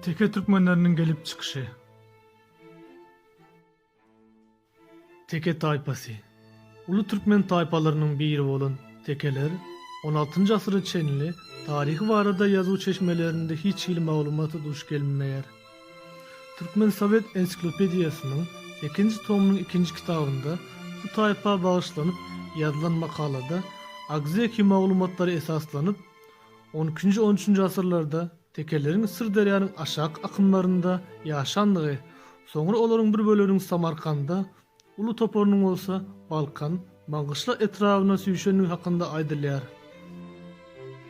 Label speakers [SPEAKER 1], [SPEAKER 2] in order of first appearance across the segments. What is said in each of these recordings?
[SPEAKER 1] Teke türkmenleriniň gelip çykyşy. Teke taýpasy. Uly türkmen taýpalarynyň biri bolan tekeler on altynjy asyra çenli taryhy barada ýazuw çeşmelerinde hiç hili maglumata duş gelinmeýär. Türkmen sowet ensiklopediýasynyň sekinji tomynyň ikinji kitabynda bu taýpa bagyşlanyp ýazylan makalada agzeki maglumatlara esaslanyp, on ikinji-on üçünji asyrlarda tekeleriň Syrderýanyň aşaky akymlarynda ýaşandygy, soňra olaryň bir böleginiň Samarkanda, Uly toparynyň bolsa Balkan, Maňgyşla etrabyna süýşendigi hakynda aýdylýar.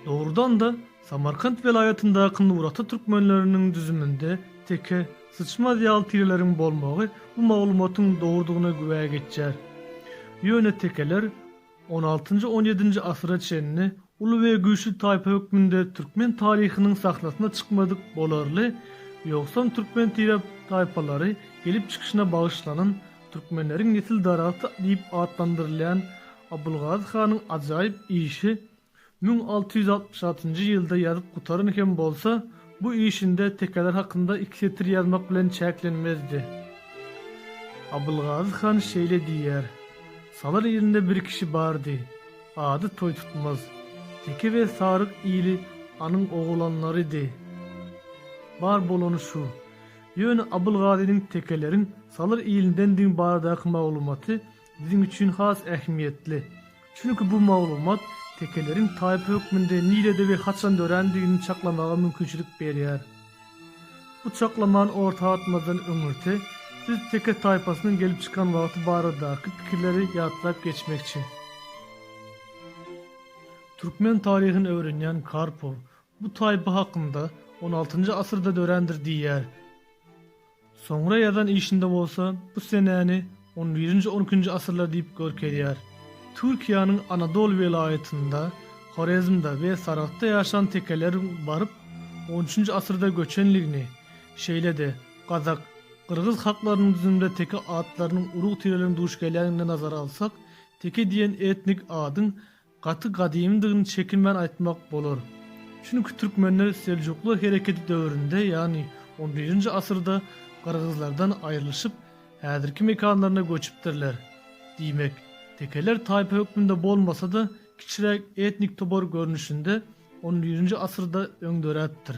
[SPEAKER 1] Dogrudan-da, Samarkant welaýatyndaky Nurata türkmenleriniň düzüminde teke, syçmaz ýaly tireleriň bolmagy bu maglumatyň dogrudygyna güwä geçýär. Ýöne tekeler, On altynjy, on ýedinji asyra çenli uly we güýçli taýpa hökmünde türkmen taryhynyň sahnasyna çykmadyk bolarly, ýogsam türkmen tire taýpalary gelip çykyşyna bagyşlanan Türkmenleriň nesil daragty diýip atlandyrylýan Abylgazy hanyň ajaýyp işi Müň alty ýüz altmyş altynjy ýylda ýazyp gutaran hem bolsa, bu işinde tekeler hakynda iki setir ýazmak bilen çäklenmezdi. Abylgazy han şeýle diýýär, Salar ilinde bir kişi bardy. Ady Toýtutmaz. Teke we saryk ili anyň ogulanlarydy. Bar bolany şu. Ýöne Abylgazynyň tekeleriň Salar ilindendigiň baradaky maglumaty biziň üçin has ähmiýetli. Çünki bu maglumat tekeleriň taýpa hökmünde nirede we haçan dörändigini çaklamaga mümkinçilik berýär. Bu çaklamany orta atmazdan öňürti biz teke taýpasynyň gelip çykan wagty baradaky pikirleri ýatlap geçmekçi. Türkmen taryhyny öwrenýän Karpow Bu taýpa hakynda on altynjy asyrda dörändir diýýär. Soňra ýazan işinde bolsa bu senäni on birinji-on ikinji asyrlar diýip görkezýär. Türkiýäniň Anadol welaýatynda, Horezmde we Saragtda ýaşan tekeleriň baryp on üçünji asyrda göçenligini, şeýle-de gazak, gyrgyz halklarynyň düzüminde teke atlarynyň urug-tireleriniň duş gelýänligini nazara alsak, teke diýen etnik adyň gaty gadymydygyny çekinmän aýtmak bolar. Çünki türkmenler Seljuklar hereketi döwründe, ýagny on birinji asyrda gyrgyzlardan aýrylyşyp, häzirki mekanlaryna göçüpdirler. Diýmek, tekeler taýpa hökmünde bolmasa-da, kiçiräk etnik topar görnüşinde on birinji asyrda öň döräpdir.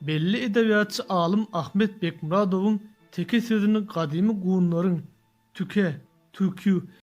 [SPEAKER 1] Belli edebiýatçy alym Ahmet Bekmyradowyň teke sözüni gadymy gunlaryň, tüke, türkü,